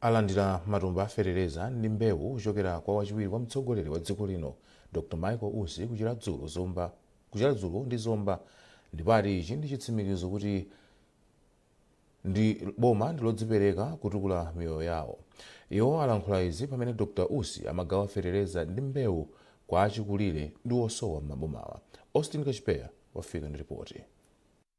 alandira matumba a fetereza ndi mbewu kuchokera kwa wachiwiri kwa mtsogoleri wa dziko lino Dr Michael Usi ku Chiradzulu Zomba ku Chiradzulu ndi Zomba ndipo ati ichi ndi chitsimikizo kuti boma ndi lodzipereka kutukula miyoyo yawo iwo alankhula izi pamene Dr Usi amagawa fetereza ndi mbewu kwa achikulire ndi osowa m'mabomawa Austin Kachipeya wafika ndi ripoti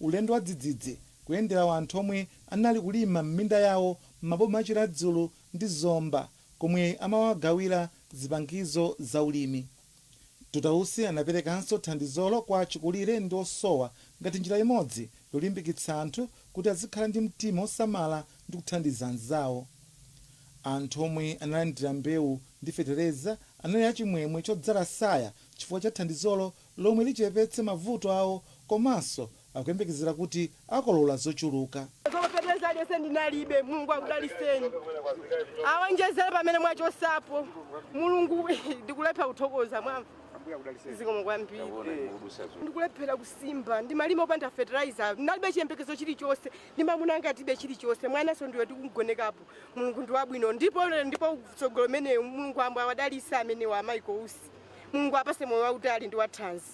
Ulendo wadzidzidzi kuyendera wanthu omwe anali kulima m'minda yawo m'maboma a Chiradzulu ndi Zomba komwe amawagawira zipangizo za ulimi. Dr Usi anaperekanso thandizolo kwa achikulire ndi osowa ngati njira imodzi yolimbikitsa anthu kuti azikhala ndi mtima osamala ndi kuthandiza anzawo. Anthu omwe analandira mbewu ndi fetereza anali achimwemwe chodzaza tsaya chifukwa cha thandizolo lomwe lichepetse mavuto awo komanso akuyembekezera kuti akolola zochuluka. Koma fertilizer aliyense ndinalibe. Mulungu akudaliseni. Awonjezere pamene mwachotsapo. Mulungu ndikulephera kuthokoza mwamva. Zikomo kwambiri. Ndikulephera kusimba. Ndimalima opanda fertilizer. Ndinalibe chiyembekezo chilichonse. Ndi mamuna anga tibe chilichonse. Mwananso ndi uyu tikumgonekapo. Mulungu ndi wabwino. Ndipo lero ndipo mtsogoleri ameneyu Mulungu apambe awadalitse amenewa a Michael Usi. Mulungu awapatse moyo wautali ndi wathanzi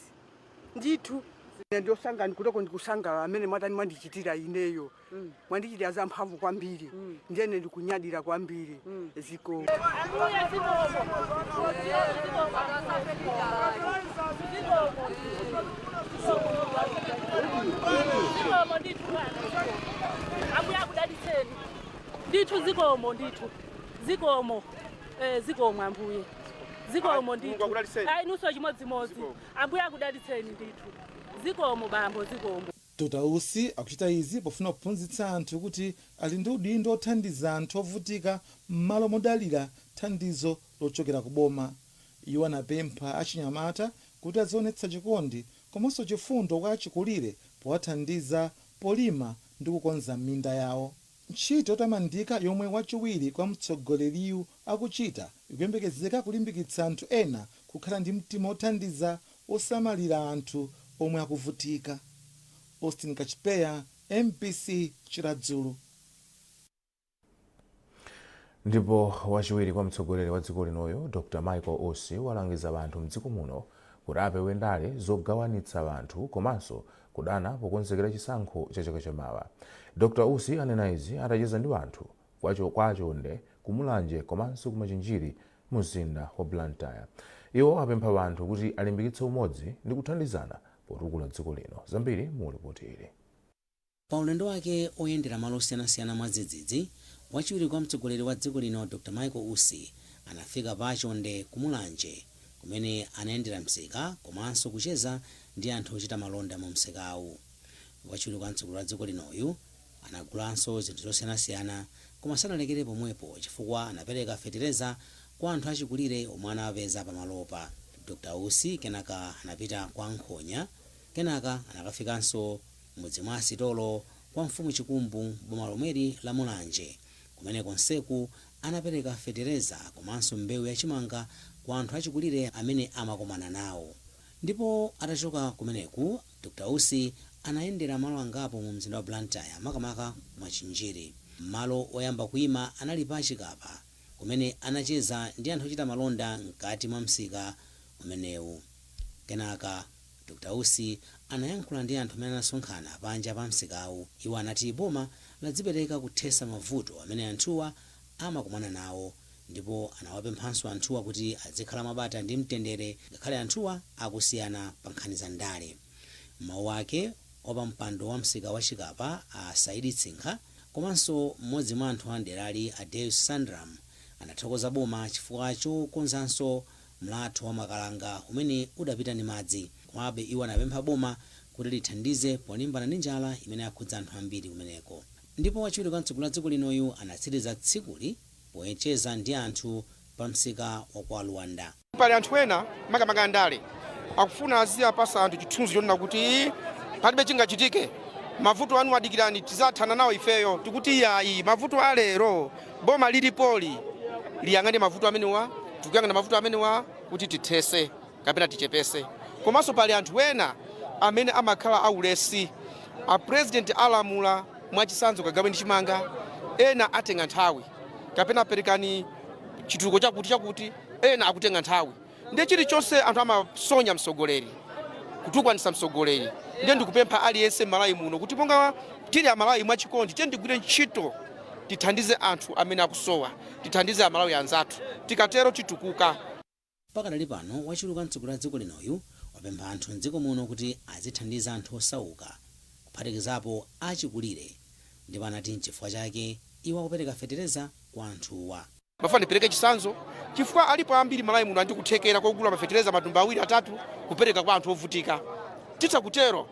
ndithu. Ine ndikusanga ndikuthoko ndikusangalala mene mwatani mwandichitira ineyo mwandichitira za mphamvu kwambiri ndiye ine ndikunyadira kwambiri zikomo. zikomo ndithu ambuye akudalitseni ndithu zikomo ndithu zikomo eh, zikomo ambuye zikomo ndithu a inunso chimodzimodzi ambuye akudalitseni ndithu zikomo bambo zikomo Dr Usi akuchita izi pofuna kuphunzitsa anthu kuti ali ndi udindo othandiza anthu ovutika mmalo modalira thandizo lochokera ku boma. Iwo anapempha achinyamata kuti azionetsa chikondi komanso chifundo kwa achikulire powathandiza polima ndi kukonza minda yawo. Ntchito yotamandika yomwe wachiwiri kwa mtsogoleriyu akuchita, ikuyembekezeka kulimbikitsa anthu ena kukhala ndi mtima wothandiza wosamalira anthu omwe akuvutika. Austin Kachipeya, MBC, Chiradzulu. Ndipo wachiwiri kwa mtsogoleri wa dziko linoyu, Dr Michael Usi, walangiza anthu m'dziko muno kuti apewe ndale zogawanitsa anthu komanso kudana pokonzekera chisankho cha chaka cha mawa. Dr Usi anena izi atacheza ndi anthu. kwa Chonde ku Mulanje komanso ku Machinjiri mu mzinda wa Blantyre. Iwo apempha anthu kuti alimbikitse umodzi ndi kuthandizana potukula dziko lino. Zambiri mu lipoti ili. Pa ulendo wake oyendera malo osiyanasiyana mwadzidzidzi, wachiwiri kwa mtsogoleri wa dziko lino Dr Michael Usi anafika pa Chonde ku Mulanje kumene anayendera msika komanso kucheza ndi anthu ochita malonda mu msikawu. Wachiwiri kwa mtsogoleri wa dziko linoyu, Anagulanso zinthu zosiyanasiyana koma sanalekere pomwepo chifukwa anapereka fetereza kwa anthu achikulire omwe anawapeza pamalopa. Dr Usi kenaka anapita kwa Nkhonya kenaka anakafikanso m'mudzi mwa a Sitolo kwa mfumu Chikumbu m'boma lomweli la Mulanje kumene konseku anapereka fetereza komanso mbewu ya chimanga kwa anthu achikulire amene amakomana nawo ndipo atachoka kumeneku Dr Usi anayendera malo angapo mu mzinda wa Blantyre makamaka ku Machinjiri. Malo oyamba kuima anali pa Chikapa kumene anacheza ndi anthu ochita malonda mkati mwa msika umenewu. Kenaka Dr Usi anayankhula ndi anthu amene anasonkhana panja pa msikawu. Iwo anati boma ladzipereka kuthesa mavuto amene anthuwa amakomana nawo. ndipo anawapemphanso anthuwa kuti adzikhala mwabata ndi mtendere ngakhale anthuwa akusiyana pa nkhani za ndale. M'mawu ake, wapampando wa msika wa Chikapa a Saidi Tsinkha komanso m'modzi mwa anthu a m'derali a Deus Sandram anathokoza boma chifukwa chokonzanso mlatho wa Makalanga umene udapita ndi madzi. Komabe iwo anapempha boma kuti lithandize polimbana ndi njala imene yakhudza anthu ambiri kumeneko. Ndipo wachiwiri kwa mtsogoleri wa dziko linoyu anatsiriza tsikuli pocheza ndi anthu pa msika wa kwa Luanda. Pali anthu ena makamaka andale akufuna aziwapasa anthu chithunzi chonena kuti palibe chingachitike, mavuto anuwa dikirani tizathana nawo ifeyo. Tikuti iyayi, mavuto a lero boma lilipoli liyang'ane mavuto amenewa, tikuyang'ana mavuto amenewa kuti tithese. kapena tichepese komanso pali anthu ena amene amakhala aulesi a president alamula mwachisanzo kagaweni chimanga ena atenga nthawi kapena perekani chitukuko chakuti chakuti ena akutenga nthawi ndiye chilichonse anthu amasonya msogoleri kutukwanisa msogoleri ndiye ndikupempha aliyense m'Malawi muno kuti monga tili amalawi mwachikondi tiyeni tigwire ntchito tithandize anthu amene akusowa tithandize amalawi anzathu tikatero titukuka Pakadali pano wachiwiri kwa mtsogoleri wa dziko linoyu wapempha anthu m'dziko muno kuti azithandiza anthu osauka kuphatikizapo achikulire ndipo anati nchifukwa chake iwo akupereka fetereza kwa anthuwa. Ndimafuna ndipereke chitsanzo chifukwa alipo ambiri m'Malawi muno ali ndi kuthekera kogula mafetereza matumba awiri atatu kupereka kwa anthu ovutika. Titha kutero.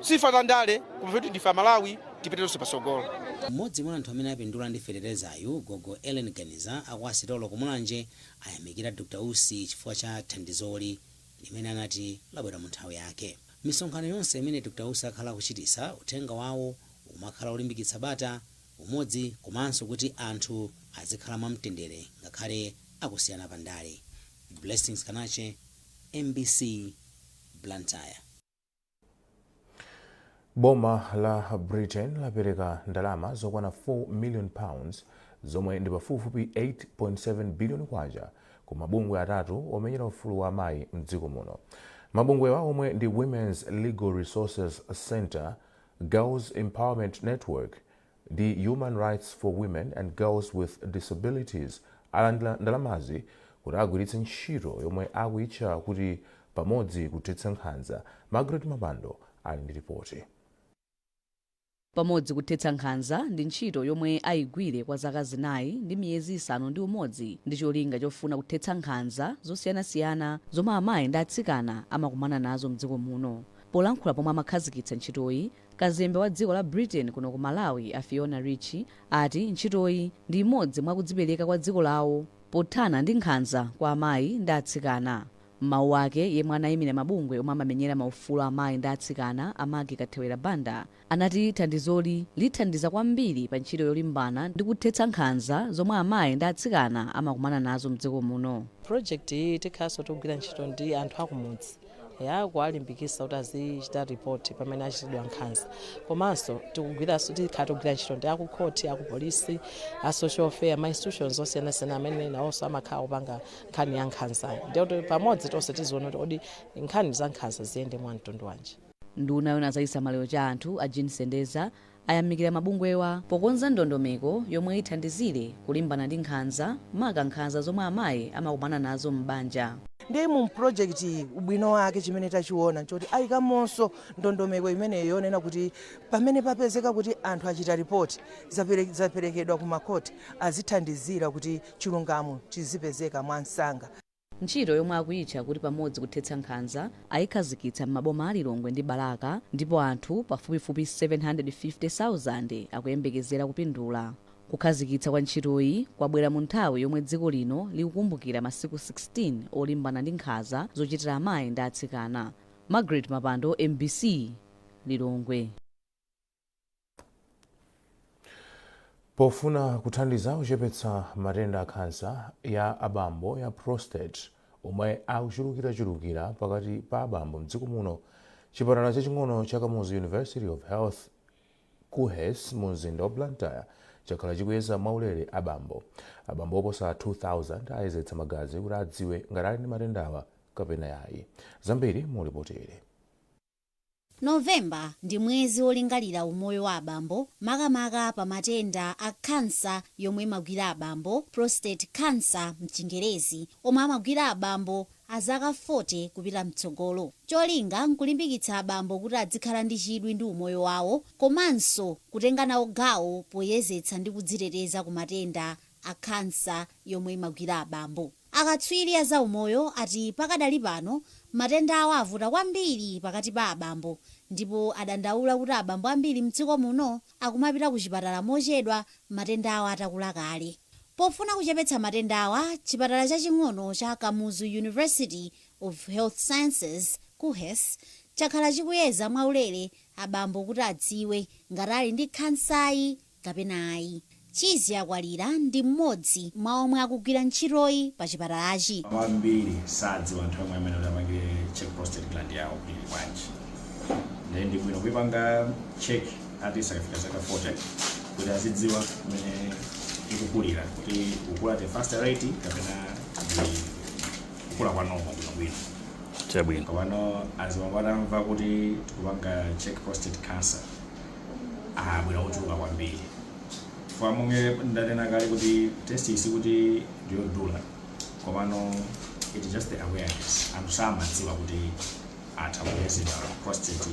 Sikuti za ndale koma kuti ndife Amalawi tipite tonse patsogolo. Mmodzi mwa anthu amene apindula ndi feterezayu, gogo Ellen Ganiza a kwa Sitolo ku Mulanje ayamikira Dr Usi chifukwa cha thandizoli limene anati labwera mu nthawi yake. Misonkhano yonse imene Dr Usi akhala kuchititsa, uthenga wawo umakhala olimbikitsa bata, umodzi komanso kuti anthu azikhala mwa mtendere ngakhale akusiyana pa ndale. Blessings Kanache, mbc, Blantyre. boma la britain lapereka ndalama zokwana 4 million pounds zomwe ndi pafupifupi 8.7 billion kwacha ku mabungwe atatu omenyera ufulu wa amayi mdziko muno mabungwewa omwe ndi women's legal resources centre girls empowerment network ndi Human Rights for Women and Girls with Disabilities alandira ndalamazi kuti agwiritse ntchito yomwe akuyitcha kuti Pamodzi kuthetsa nkhanza. Margaret Mapando ali ndi lipoti. Pamodzi kuthetsa nkhanza ndi ntchito yomwe ayigwire kwa zaka zinayi ndi miyezi isanu ndi umodzi ndi cholinga chofuna kuthetsa nkhanza zosiyanasiyana zomwe amayi ndi atsikana amakumana nazo mdziko muno. Polankhula pomwe amakhazikitsa ntchitoyi, Kazembe wa dziko la Britain kuno ku Malawi a Fiona Ritchie ati ntchitoyi ndi imodzi mwa kudzipereka kwa dziko lawo pothana ndi nkhanza kwa amayi ndi atsikana. M'mawu ake, yemwe anayimira mabungwe omwe amamenyera maufulu a amayi ndi atsikana a Maggie Kathewera Banda anati thandizoli lithandiza kwambiri pa ntchito yolimbana ndi kuthetsa nkhanza zomwe amayi ndi atsikana amakumana nazo mdziko muno. Project iyi tikhalanso tikugwira ntchito ndi anthu akumudzi. ya kuwalimbikisa kuti azichita ripoti pamene achitidwa nkhanza komanso tikugwiranso tikhala tikugwira ntchito ndi akukhoti akupolisi a social welfare ma institutions osiyanasiyana amene nawonso amakhala akupanga nkhani ya nkhanza ndiye pamodzi tonse tiziona kuti kodi nkhani za nkhanza ziyende mwa mtundu wanji nduna yoona zachisamaliro cha anthu a jean sendeza ayamikira mabungwewa pokonza ndondomeko yomwe ithandizire kulimbana ndi nkhanza maka nkhanza zomwe amayi amakumana nazo m'banja. Ndiye mu project iyi ubwino wake chimene tachiona nchoti ayikamonso ndondomeko imeneyo yonena kuti pamene papezeka kuti anthu achita report zaperekedwa ku makhoti azithandizira kuti chilungamo chizipezeka mwamsanga. Ntchito yomwe akuyitcha kuti Pamodzi Kuthetsa Nkhanza ayikhazikitsa m'maboma a Lilongwe ndi Balaka ndipo anthu pafupifupi 750,000 akuyembekezera kupindula. Kukhazikitsa kwa ntchitoyi kwabwera mu nthawi yomwe dziko lino likukumbukira masiku 16 olimbana ndi nkhanza zochitira amayi ndi atsikana. Margaret Mapando, MBC, Lilongwe. pofuna kuthandiza kuchepetsa matenda a khansa ya abambo ya prostate omwe akuchulukirachulukira pakati pa abambo mdziko muno chipatala chaching'ono cha kamuzu university of health kuhes mu mzinda wa blantyre chakhala chikuyeza mwaulere abambo abambo oposa 2000 ayezetsa magazi kuti adziwe ngati ali ndi matendawa kapena yayi zambiri mu lipoti ili November ndi mwezi wolingalira umoyo wa abambo makamaka pa matenda a khansa yomwe imagwira abambo, prostate cancer mchingerezi, omwe amagwira abambo azaka 40 kupita mtsogolo. Cholinga nkulimbikitsa abambo kuti adzikhala ndi chidwi ndi umoyo wawo komanso kutenga nawo gawo poyezetsa ndi kudziteteza ku matenda a khansa yomwe imagwira abambo. Akatswiri a zaumoyo ati pakadali pano matendawa avuta kwambiri pakati pa abambo ndipo adandaula kuti abambo ambiri m'dziko muno akumapita kuchipatala mochedwa matendawa atakula kale. Pofuna kuchepetsa matendawa, chipatala chaching'ono cha Kamuzu University of Health Sciences, KUHeS, chakhala chikuyeza mwaulere abambo kuti adziwe ngati ali ndi khansayi. kapena ayi. Chizya Kwalira ndi mmodzi mwa omwe akugwira ntchitoyi pa chipatalachi. Ambiri sadziwa nthawi yomwe amene kuti apangire check prostate gland yawo kuti ili bwanji nde ndi bwino kuipanga check at least akafika zaka 40 kuti azidziwa mmene ikukulira kuti ikukula at a faster rate kapena ndi kukula kwa normal bwinobwino. Chabwino. Komano azibambo atamva kuti tikupanga check prostate cancer abwera ochuluka kwambiri chifukwa monga ndanena kale kuti test iyi sikuti ndiyodula komano it just the awareness anthu samadziwa kuti atha kuyezedwa prostate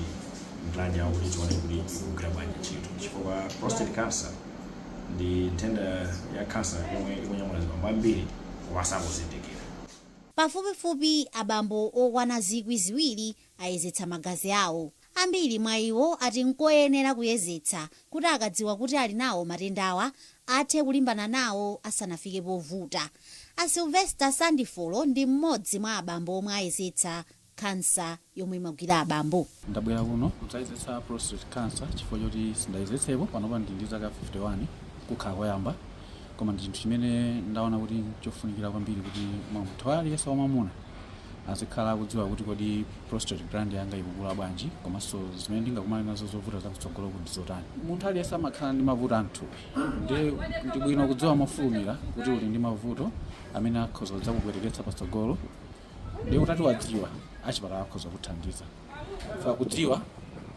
gland yawo kuti tione kuti ikugwira bwanji ntchito chifukwa prostate cancer ndi nthenda ya cancer yomwe ikunyamula azibambo ambiri osazindikira Pafupifupi abambo okwana zikwi ziwiri ayezetsa magazi awo. Ambiri mwa iwo ati nkoyenera kuyezetsa kuti akadziwa kuti ali nawo matendawa athe kulimbana nawo asanafike povuta. A Sylvester Sandifolo ndi mmodzi mwa abambo omwe ayezetsa khansa yomwe imagwira abambo. Ndabwera kuno kudzayezetsa prostate cancer chifukwa choti sindayezetsepo. Panopa ndili ndi zaka 51, kukhala koyamba. Koma ndi chinthu chimene ndaona kuti nchofunikira kwambiri kuti munthu aliyense wamwamuna azikhala akudziwa kuti kodi prostate gland yanga ikukula bwanji komanso zimene ndingakumane nazo zovuta zakutsogoloku ndi zotani munthu aliyense amakhala ndi mavuto a mthupi nde ndi bwino kudziwa mofulumira kuti uli ndi mavuto amene akhoza kudzakupweteketsa patsogolo nde utati wadziwa achipatala akhoza kuthandiza fa kudziwa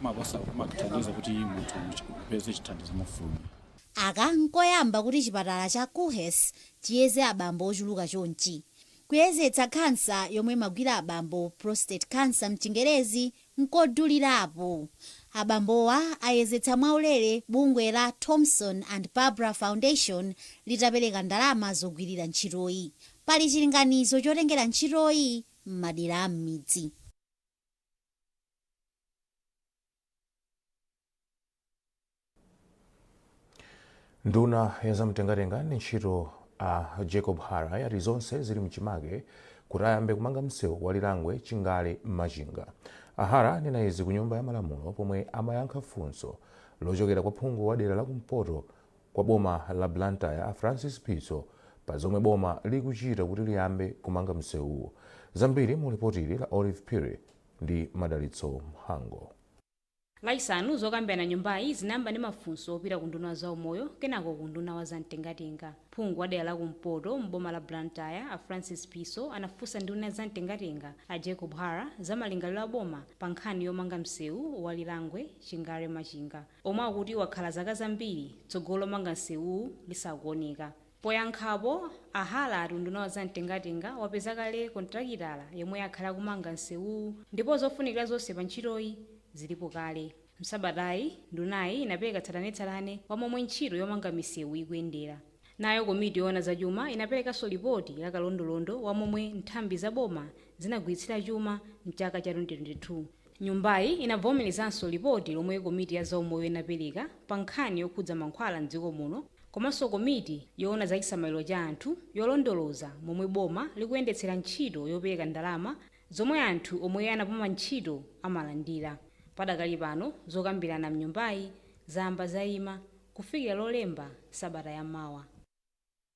makosa kumathandiza kuti munthu upeze chithandizo mofulumira aka nkoyamba kuti chipatala cha KUHES chiyeze abambo ochuluka chonchi Kuyezetsa khansa yomwe imagwira abambo, Prostate Cancer mchingerezi, nkodulirapo. Abambowa ayezetsa mwaulere bungwe la Thomson and Barbara Foundation litapereka ndalama zogwirira ntchitoyi. Pali chilinganizo chotengera ntchitoyi m'madera a m'midzi. nduna ya zamtengatenga ndi ntchito a jacob hara yati zonse zili mchimake kuti ayambe kumanga msewu wa lirangwe chingale machinga a hara anena izi ku nyumba ya malamulo pomwe amayankha funso lochokera kwa phungu wa dera la kumpoto kwa boma la blantyre a francis phiso pa zomwe boma likuchita kuti liyambe kumanga msewuwu zambiri mu lipotili la olive phiri ndi Madalitso Mhango. Lachisanu, zokambirana m'nyumbayi zinayamba ndi mafunso opita ku unduna wa zaumoyo kenako ku unduna wa za mtengatenga. Phungu wa dera la kumpoto m'boma la Blantyre a Francis Phiso anafunsa nduna ya za mtengatenga a Jacob Hara za malingaliro a boma pa nkhani yomanga msewu wa Lirangwe, Chingale-Machinga omwe akuti wakhala zaka zambiri tsogolo lomanga msewuwu lisakuoneka. Poyankhapo, a Hara ati unduna wa za mtengatenga wapeza kale kontilakitala yemwe akhale akumanga msewuwu ndipo zofunikira zonse pa ntchitoyi zilipo kale. M'sabatayi, ndunayi inapereka tsatanetsatane wa momwe ntchito yomanga misewu ikuyendera. Nayo komiti yoona za chuma inaperekanso lipoti la kalondolondo wa momwe nthambi za boma zinagwiritsira chuma m'chaka cha 2022. Nyumbayi inavomerezanso lipoti lomwe komiti ya zaumoyo inapereka pa nkhani yokhudza mankhwala m'dziko muno komanso komiti yoona za chisamaliro cha anthu yolondoloza momwe boma likuyendetsera ntchito yopereka ndalama zomwe anthu omwe anapuma ntchito amalandira. Padakali pano zokambirana m'nyumbayi zayamba zaima kufikira Lolemba sabata ya mawa.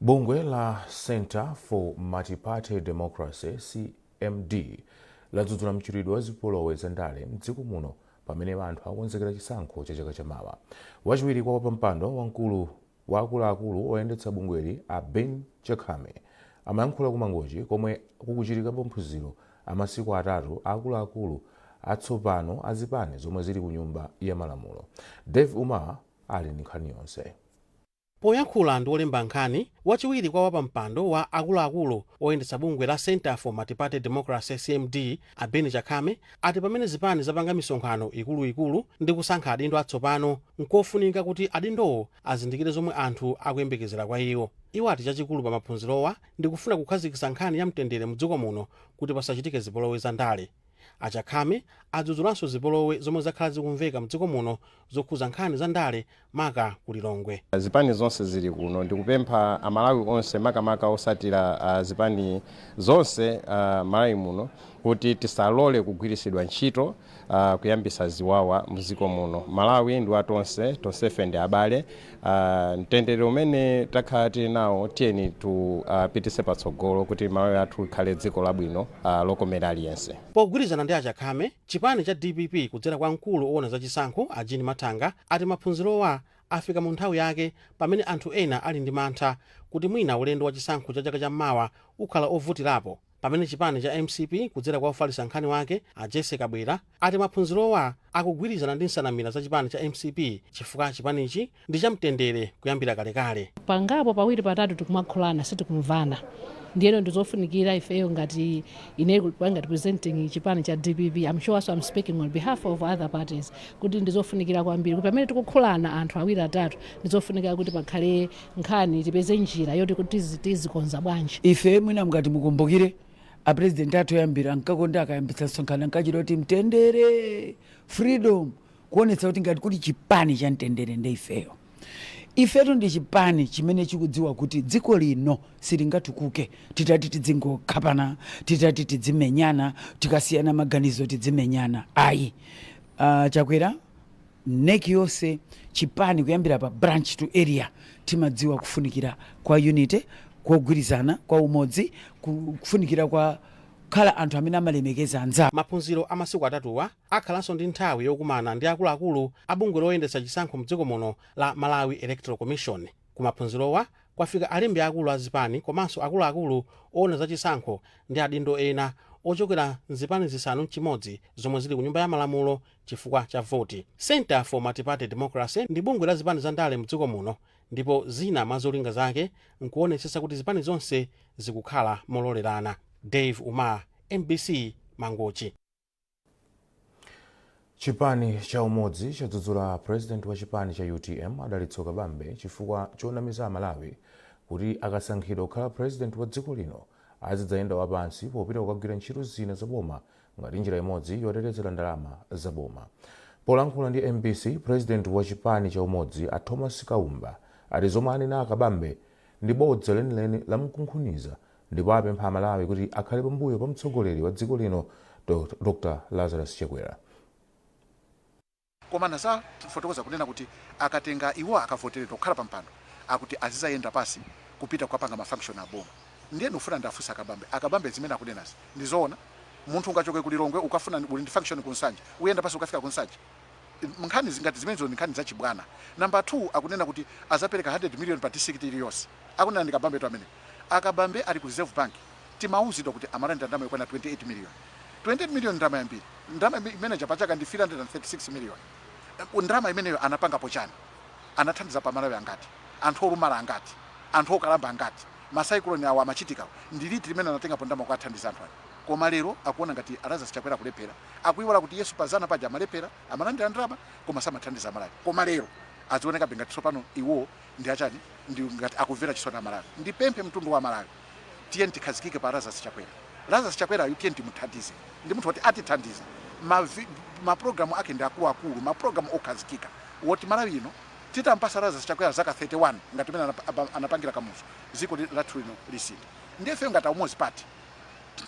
bungwe la center for multiparty democracy cmd ladzudzula mchitidwe wa zipolowe za ndale mdziko muno pamene anthu akonzekera chisankho cha chaka chamawa wachiwiri kwa wapampando wamkulu Wa akuluakulu oyendetsa bungweli a Ben Chakhame amayankhula ku Mangochi komwe kukuchitika maphunziro amasiku atatu aakuluakulu atsopano azipani zomwe zili kunyumba yamalamulo. Davie Umar ali ndi nkhani yonse. Poyankhula ndi olemba nkhani, wachiwiri kwa wapampando wa akuluakulu oyendetsa bungwe la Centre for Multiparty Democracy, CMD, A Ben Chakhame ati pamene zipani zapanga misonkhano ikuluikulu ndi kusankha adindo atsopano, nkofunika kuti adindowo azindikire zomwe anthu akuyembekezera kwa iwo. Iwo ati chachikulu pa maphunzirowa ndi kufuna kukhazikitsa nkhani ya mtendere mdziko muno kuti pasachitike zipolowe za ndale. A Chakhame adzudzulanso zipolowe zomwe zakhala zikumveka mdziko muno zokhuza nkhani za ndale maka ku Lilongwe. Zipani zonse zili kuno ndikupempha a Malawi onse makamaka osatira zipani zonse m'Malawi muno kuti tisalole kugwirisidwa ntchito kuyambisa ziwawa mziko muno. Malawi ndi wa tonse, tonsefe ndi abale mtendere umene takhala tili nawo tiyeni tiupitise patsogolo kuti Malawi athu ikhale dziko labwino lokomera aliyense. Pogwirizana ndi a Chakhame, Chipani cha dpp kudzera kwa mkulu owona za chisankho a Jean Mathanga ati maphunzirowa afika mu nthawi yake pamene anthu ena ali ndi mantha kuti mwina ulendo wa chisankho cha chaka cha mmawa ukhala ovutilapo pamene chipani cha mcp kudzera kwa ofalisa nkhani wake a Jessie Kabwila ati maphunzirowa akugwilizana ndi nsanamila za chipani cha mcp chifukwa chipanichi ndi cha mtendere kuyambira kalekale. pangapo pawiri patatu tikumakhulana sitikumvana ndiyeno ndizofunikira ifeyo ngati ngati representing chipani cha dpp I'm sure also I'm speaking on behalf of other parties kuti ndizofunikira kwambiri kuti pamene tikukhulana anthu awiri atatu ndizofunikira kuti pakhale nkhani tipeze njira yoti kuti tizi- tizikonza bwanji ife mwina ngati mukumbukire apurezidenti athu oyambira ankakonda akayambitsa msonkhano ankachita kuti mtendere freedom kuonetsa kuti ngati kuli chipani cha mtendere nde ifeyo ifetu ndi chipani chimene chikudziwa kuti dziko lino silingatukuke titati tidzingokhapana titati tidzimenyana tikasiyana maganizo tidzimenyana ayi uh, chakwera NEC yonse chipani kuyambira pa branch to area timadziwa kufunikira kwa unity kwa kugwirizana kwa umodzi ku- kufunikira kwa kukhala anthu amene amalemekeza anzawo maphunziro a masiku atatuwa akhalanso ndi nthawi yokumana ndi akuluakulu a bungwe loyendetsa chisankho mdziko muno la Malawi Electoral Commission. Ku maphunzirowa kwafika alembi akulu a zipani komanso akuluakulu owona za chisankho ndi adindo ena ochokera mzipani zisanu nchimodzi zomwe zili ku nyumba ya malamulo chifukwa cha voti. Centre for Multiparty Democracy ndi bungwe la zipani za ndale mdziko muno ndipo zina mwa zolinga zake nkuwonetsetsa kuti zipani zonse zikukhala mololerana. Dave Umar, mbc, Mangochi. chipani cha umodzi chadzudzula president wa chipani cha utm a dalitso kabambe chifukwa chonamiza amalawi kuti akasankhidwa kukhala president wa dziko lino azidzayenda wapansi popita kukagwira ntchito zina za boma ngati njira imodzi yotetezera ndalama za boma polankhula ndi mbc president wa chipani cha umodzi a thomas kaumba ati zomwe anena a kabambe ndi bodza lenileni lamkunkhuniza ndipo apempha Amalawi kuti akhale pambuyo pa mtsogoleri wa dziko lino Dr Lazarus Chakwera. koma anazafotokoza kunena kuti akatenga iwo akavoteredwa kukhala pampando akuti azizayenda pasi kupita kukapanga ma function a boma ndiye ndikufuna ndiafunse a kabambe a kabambe zimene akunenazi ndizoona munthu ungachoke ku lilongwe ukafuna uli ndi function ku nsanje uyenda pasi ukafika ku nsanje nkhani zingati zimenezo ndi nkhani zachibwana number 2 akunena kuti azapereka 100 million pa district iliyonse akunena ndi kabambetu amene a kabambe ali ku reserve bank timauzidwa kuti amalandira ndalama yokwana 28 million 28 million ndalama yambiri ndalama imene ija pachaka ndi 336 million ndalama imeneyo anapangapo chani anathandizapo amalawi angati anthu olumala angati anthu okalamba angati masaikuloni awo amachitikawo ndi liti limene anatengapo ndalama kuwathandiza anthu ali Koma lero akuona ngati a Lazarus Chakwera akulephera, akuiwala kuti iwoso pa dzana paja amalephera, amalandira ndalama koma samathandiza Amalawi. Koma lero azionekabe ngati tsopano iwo ndi achani, ndi ngati akumvera chisoni Amalawi. Ndipemphe mtundu wa Amalawi, tiyeni tikhazikike pa Lazarus Chakwera. Lazarus Chakwerayu tiyeni timuthandize, ndi munthu woti atithandiza. Ma ma program ake ndi akuluakulu, ma program okhazikika woti Malawi ino titamupasa Lazarus Chakwera zaka 31 ngati mmene anapangira Kamuzu, dziko lathu lino lisintha. Ndiye ifeyo ngati a Umodzi Party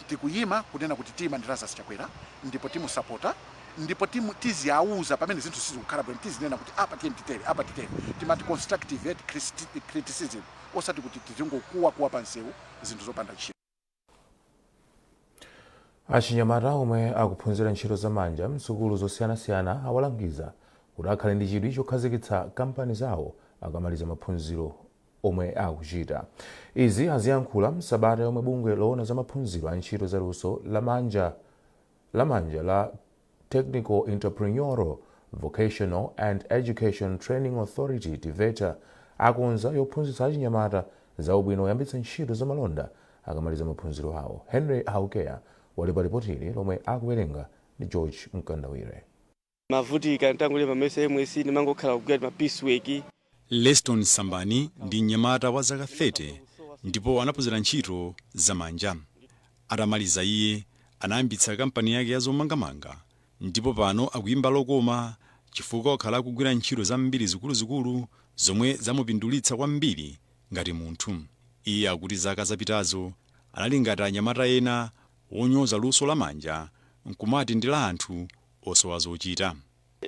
tikuyima kunena kuti tiyima ndi Lazarus Chakwera ndipo timusapota ndipo timu, tiziauza pamene zinthu sizikukhala bwino tizinena kuti apa tiyeni titere apa titere timati constructive criticism osati kuti tizingokuwakuwa pa msewu zinthu zopanda ntchito Achinyamata omwe akuphunzira ntchito zamanja m'sukulu zosiyanasiyana awalangiza kuti akhale ndi chidwi chokhazikitsa kampani zawo akamaliza maphunziro omwe akuchita. Izi aziyankhula m'sabata yomwe bungwe loona za maphunziro a ntchito za luso la manja la Technical Entrepreneurial Vocational and Education Training Authority, TEVETA, akonza yophunzitsa achinyamata za ubwino oyambitsa ntchito za malonda akamaliza maphunziro awo. Henry Haukeya wali pa lipoti ili lomwe akuwerenga ndi George Mkandawire. ndimavutika nditangolemba mayeso a MSCE ndimangokhala kugwira ma piecework Leston Sambani ndi mnyamata wa zaka 30 ndipo anaphunzira ntchito zamanja. Atamaliza iye anayambitsa kampani yake ya zomangamanga ndipo pano akuimba lokoma chifukwa wakhala akugwira ntchito zambiri zikuluzikulu zomwe zamupindulitsa kwambiri ngati munthu. Iye akuti zaka zapitazo anali ngati anyamata ena onyoza luso la manja n'kumati ndi la anthu osowa zochita.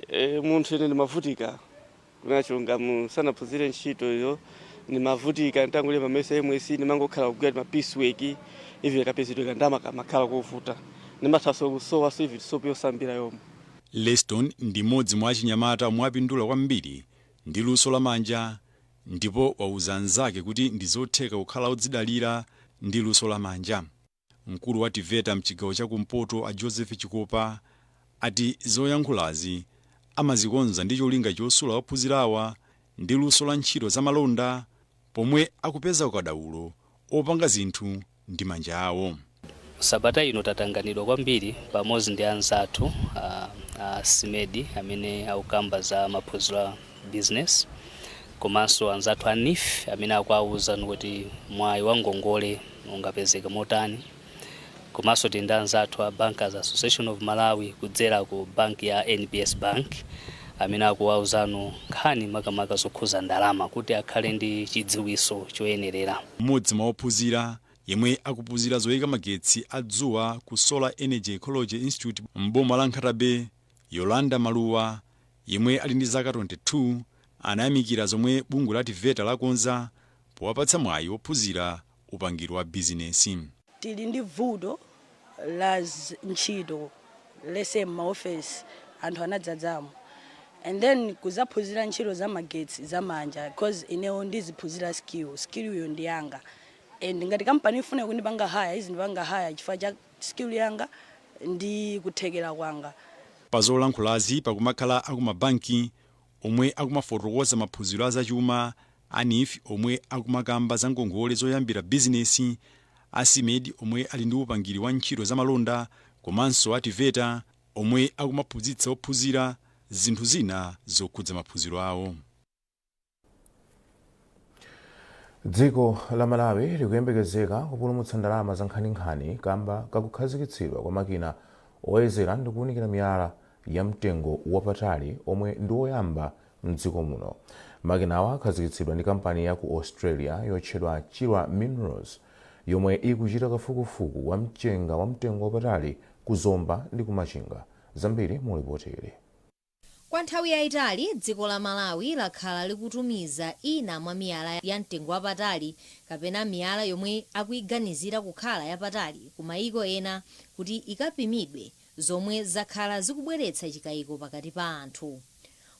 Eee munthu ine ndimavutika kunena chilungamo ndisanaphunzire ntchito iyo ndimavutika nditangolemba mayeso a MSCE ndimangokhala kugwira tima piece work even kapezedwe kandalama kamakhala kovuta ndimathaso kusowaso even soap yosambira yomwe. Leston ndi m'modzi mwa achinyamata omwe apindula kwambiri ndi luso la manja ndipo wauza anzake kuti ndizotheka kukhala odzidalira ndi luso la manja. Mkulu wa TEVETA mchigawo cha kumpoto a Joseph Chikopa ati zoyankhulazi amazikonza ndi cholinga chosula ophunzirawa ndi luso la ntchito za malonda pomwe akupeza ukadaulo opanga zinthu ndi manja awo. Sabata ino tatanganidwa kwambiri pamodzi ndi anzathu a a SMEDI amene akukamba za maphunziro a. business komanso anzathu a NEEF amene akuwawuza kuti mwayi wa ngongole ungapezeke motani komanso tili ndi anzathu a Bankers Association of Malawi kudzera ku banki ya NBS Bank amene akuwawuzano nkhani makamaka zokhuza ndalama kuti akhale ndi chidziwitso choyenerera. M'modzi mwa ophunzira yemwe akuphunzira zoyika magetsi a dzuwa ku Solar Energy Ecology Institute m'boma la Nkhata Bay, Yolanda Maluwa, yemwe ali ndi zaka 22, anayamikira zomwe bungwe la TEVETA lakonza powapatsa mwayi wophunzira upangiri wa bizinesi. Tili ndi vuto la ntchito these days mmaofesi anthu anadzadzamo and then kuzaphunzira ntchito za magetsi za manja coz ineo ndikuphunzira skill, skill yo ndi yanga and ngati company ikufuna kundipanga hire izindipanga hire chifukwa cha skill yanga ndi kuthekera kwanga. Pazolankhulazi pakumakhala akumabanki omwe akumafotokoza maphunziro a zachuma, a NEEF omwe akumakamba za ngongole zoyambira bizinesi, a SMEDI omwe ali ndi upangiri wa ntchito za malonda komanso a TEVETA omwe akumaphunzitsa ophunzira zinthu zina zokhudza maphunziro awo. dziko la malawi likuyembekezeka kupulumutsa ndalama zankhaninkhani kamba kakukhazikitsidwa kwa makina oyezera ndi kuwunikira miyala ya mtengo wapatali omwe ndi oyamba mdziko muno makinawa akhazikitsidwa ndi kampani ya ku australia yotchedwa chilwa minerals yomwe ikuchita kafukufuku wa mchenga wa mtengo wapatali ku zomba ndi ku machinga zambiri mu lipoti ili Kwa nthawi yaitali, dziko la Malawi lakhala likutumiza ina mwa miyala ya mtengo wapatali kapena miyala yomwe akuiganizira kukhala yapatali ku maiko ena kuti ikapimidwe zomwe zakhala zikubweretsa chikaiko pakati pa anthu.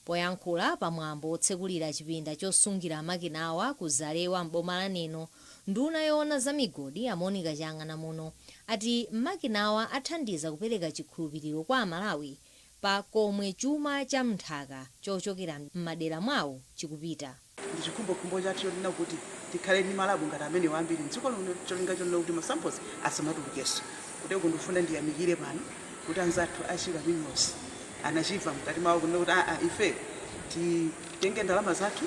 Poyankhula pa mwambo wotsekulira chipinda chosungira makinawa ku Zalewa m'boma la Neno, nduna yoona za migodi a Monica Chang'anamuno ati makinawa athandiza kupereka chikhulupiliro kwa aMalawi pa komwe chuma cha m'nthaka chochokera m'madera mwawo chikupita. Ndi chikhumbokhumbo chathu chonena kuti tikhale ndi ma lab ngati amenewa ambiri m'dziko lino ndi cholinga chonena kuti ma samples asamatulukenso. Koteroko ndikufuna ndiyamikire pano kuti anzathu a Chilwa Minerals anachiva mkati mwawo kunena kuti aa ife titenge ndalama zathu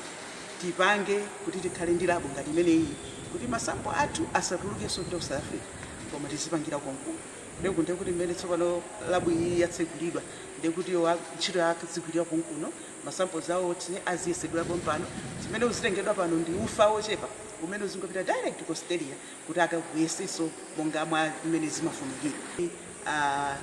tipange kuti tikhale ndi lab ngati imeneyiyi kuti ma sample athu asatulukenso kupita ku South Africa koma tizipangira konkuno. Ndiye kuti mmene tsopano labu iyi yatsegulidwa ndiye kuti iwo ak- ntchito yake azigwirira konkuno masamples awo oti aziyesedwa pompano zimene uzitengedwa pano ndi ufa wochepa umene uzingopita direct ku Australia kuti akakuyeseso monga mwa mmene zimafunikira Ah,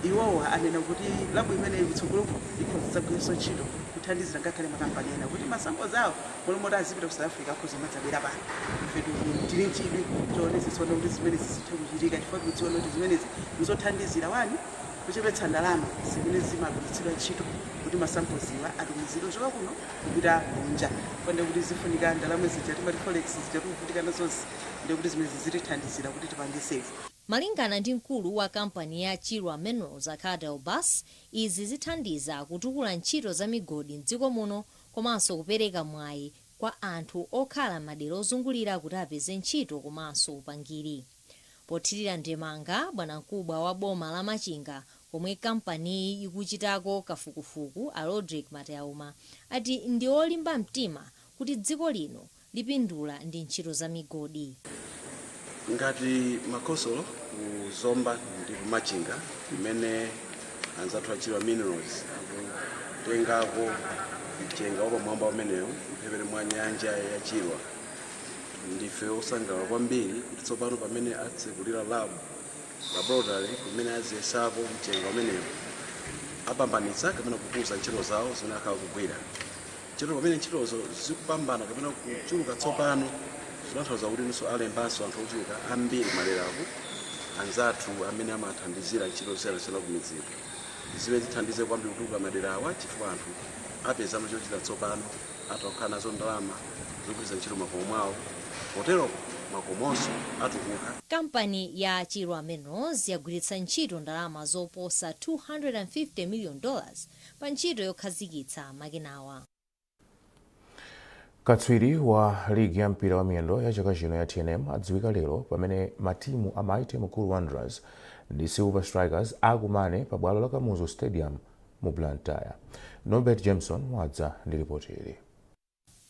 iwowa anena kuti labu imeneyi kutsogolo kuno ikhoza kudzagwiranso ntchito kuthandizira ngakhale makampani ena kuti masamples awo Malo moti azipita ku South Africa akhoza kumadzabwera pano. Ife tili nchidwi choonetsetsa kuona kuti zimenezi zithe kuchitika chifukwa tikudziona kuti zimenezi nzothandizira wani kuchepetsa ndalama zimene zimagwiritsidwa ntchito kuti ma samples wa atumizidwe kuchoka kuno kupita kunja. Chifukwa ndiye kuti zifunika ndalama zija timati forex zija tikuvutika nazozi ndiye kuti zimenezi zitithandizira kuti tipange save. Malingana ndi mkulu wa kampani ya Chilwa Minerals a Cadell Buss, izi zithandiza kutukula ntchito za migodi m'dziko muno komanso kupereka mwayi kwa anthu okhala m'madera ozungulira kuti apeze ntchito komanso upangiri. Pothirira ndemanga, bwanamkubwa wa boma la Machinga komwe kampaniyi ikuchitako kafukufuku a Rodrick Mateauma ati ndi olimba mtima kuti dziko lino lipindula ndi ntchito za migodi. Ngati makhonsolo ku Zomba ndi ku Machinga kumene anzathu a Chilwa Minerals akutengako mchenga wapamwamba umenewu mphepete mwa nyanja ya Chilwa, ndife osangalala kwambiri kuti tsopano pamene atsekulira lab laboratory kumene aziyesako mchenga umenewu apambanitsa kapena kukuza ntchito zawo zimene akhala akugwira. Ntchito pamene ntchitozo zikupambana kapena kuchuluka tsopano zikutanthauza kuti alembanso anthu ochuluka ambiri maderaku anzathu amene amathandizira ntchito zosiyanasiyana kumidziko zimene zithandize kwambiri kutukula maderawa chifukwa anthu apeza chochita tsopano atakhala nazo ndalama zogwiritsa ntchito makomo mwawo potero makomonso atukuka Kampani ya Chirwa Minerals yagwiritsa ntchito ndalama zoposa 250 million dollars pa ntchito yokhazikitsa makinawa. katswiri wa ligi ya mpira wa miyendo ya chaka chino ya tnm adziwika lero pamene matimu a mighty mukuru wanderers ndi silver strikers akumane pa bwalo la kamuzu stadium mu blantyre norbert jameson wadza ndi lipoti ili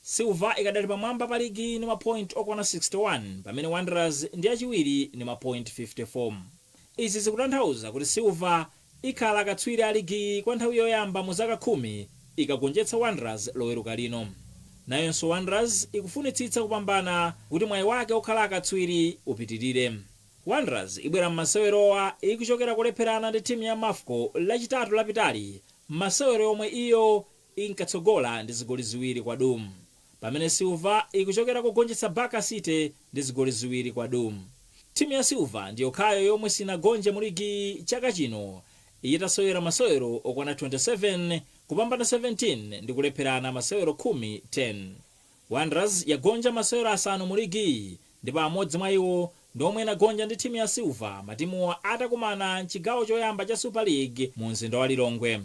Silver ikadali pamwamba pa ligiyi ndi mapointi okwana 61 pamene Wanderers ndi yachiwiri ndi mapointi 54. Izi zikutanthauza kuti Silver ikhala akatswiri a ligiyi kwa nthawi yoyamba mu zaka khumi ikagonjetsa Wanderers loweruka lino. Nayonso Wanderers ikufunitsitsa kupambana kuti mwayi wake okhala akatswiri upitilire. Wanderers ibwera mmasewerowa ikuchokera kolepherana ndi timu ya Mafco lachitatu lapitali mmasewero omwe iyo inkatsogola ndi zigoli ziwiri kwa duu pamene silver ikuchokera kogonjetsa baka city ndi zigoli ziwiri kwa duu timu ya silver ndi yokhayo yomwe sinagonje mu ligiyi chaka chino itasewera masewero okwana 27 kupambana 17 ndi kulepherana masewero khumi wanderers yagonja masewero asanu mu ligiyi ndipo amodzi mwa iwo ndi omwe inagonja ndi timu ya silver matimuwa atakumana mchigawo choyamba cha super league mu mzinda wa lilongwe.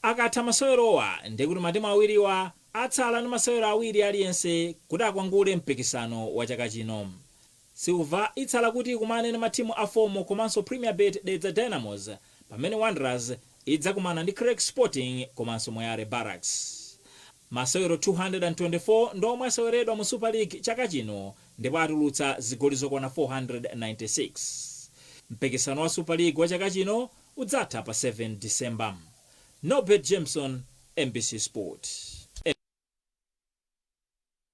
Akatha masewerowa ndiye kuti matimu awiriwa atsala ndi masewero awiri aliyense kuti akwangule mpikisano wa chaka chino. Silver itsala kuti ikumane ndi matimu a FOMO komanso Premier Bet Dedza Dynamos pamene Wanderers idzakumana ndi Creck Sporting komanso Moyale Barracks. Masewero 224 ndi omwe aseweredwa mu Super League chaka chino ndipo atulutsa zigoli zokwana 496. Mpikisano wa Super League wa chaka chino udzatha pa 7 December. Norbert Jameson, mbc Sport.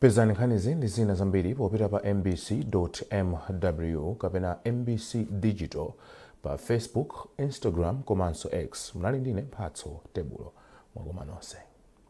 pezani nkhanizi ndi zina zambiri popita pa mbc.mw kapena mbc digital pa facebook instagram komanso x munali ndine mphatso tebulo mwakoma nonse